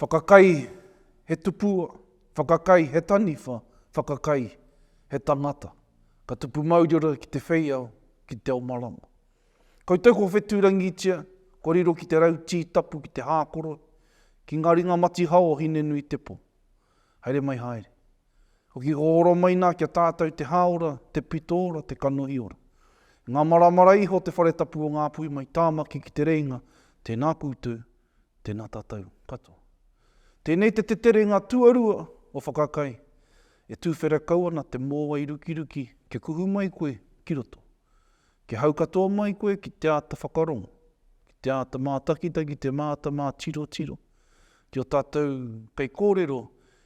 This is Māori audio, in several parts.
Whakakai He tupua Whakakai He taniwha Whakakai He tangata Ka tupu mauriora ki te wheiao, ki te ao marama. Koutou ko Whetūrangitia, kua riro ki te rau tī tapu ki te hākoro, ki ngā ringa matihao o Hinenuitepo. Haere mai haere. Hoki ko Oromaina kia tātau te hāora, te pitoora, te kanohiora. I ngā maramara iho te whare tapu o Ngāpuhi mai Tāmaki ki Te Rēinga, tēnā koutou, tēnā tātau katoa. Tēnei te teterenga tuarua o Whakakai, e tūwhera kau ana te mōwai rukiruki kia kuhu mai koe ki roto. Kia hau katoa mai koe ki te āta whakarongo, ki te āta mātakitaki, te māta mātirotiro, Ki ō tātou kaikōrero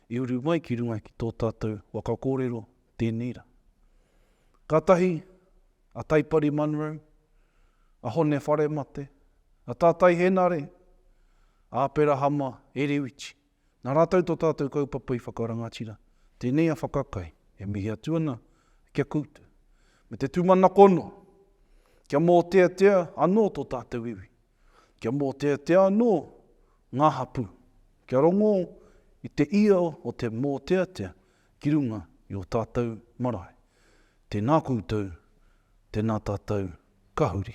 i uru mai ki runga ki tō tātou waka kōrero, tēnei rā. Kātahi a Taipari Munro, a Hone Wharemate, a Tātai Henare, a Aperahama Erewiti, nā rātou tō tātou kaupapa i whakarangatira, tēnei a Whakakai e mihi atu ana ki a koutou, me te tūmanako noa kia mōteatea anō tō tātou iwi. Kia mōteatea anō ngā hapū, kia rongō i te ia o te mōteatea ki runga i ō tātou marae. Tēnā koutou, tēnā tātou ka huri.